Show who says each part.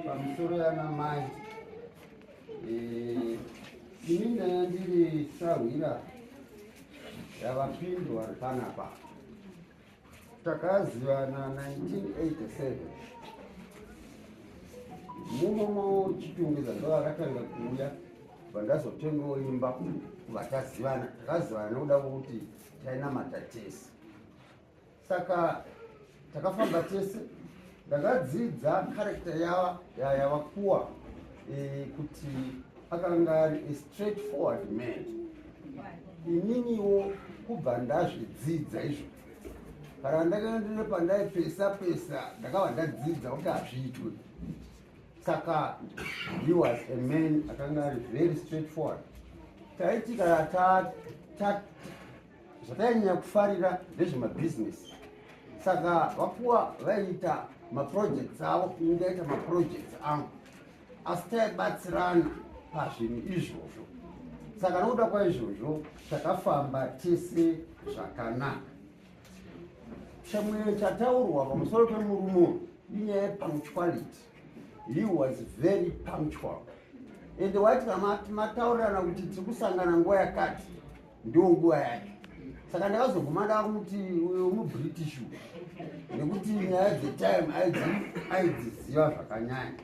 Speaker 1: Pamisoro yana mai eh, ini ndaya ndiri sahwira yavapindwa panapa takazivana 1987 munomo chitungwiza ndoakatanga kuuya vandazotengawo imba kuvatazivana takazivana nokuda kwokuti tainamata tese saka takafamba tese ndakadzidza karekta yava yavakuwa e, kuti akanga ari a straight forward man ininiwo kubva ndazvidzidza izvo kana ndakaendere pandaipesa pesa ndakava ndadzidza kuti hazviitwe saka he was a man akanga ari very straight forward taiti kana Zvataanyanya kufarira ndezvemabhizinesi saka vapuwa vaiita maprojects avo kungaita maprojects angu asi taibatsirana pazvinhu izvozvo saka nokuda kwaizvozvo takafamba tese zvakanaka chimwe chataurwa pamusoro pemurume inyaya yepunctuality he was very punctual ende waiti kana mataurirana kuti tiri kusangana nguva yakati ndiwo nguva yake saka ndakazoguma ndakuti uyo mubritish nekuti nyaya dzetime aidziziva zvakanyanya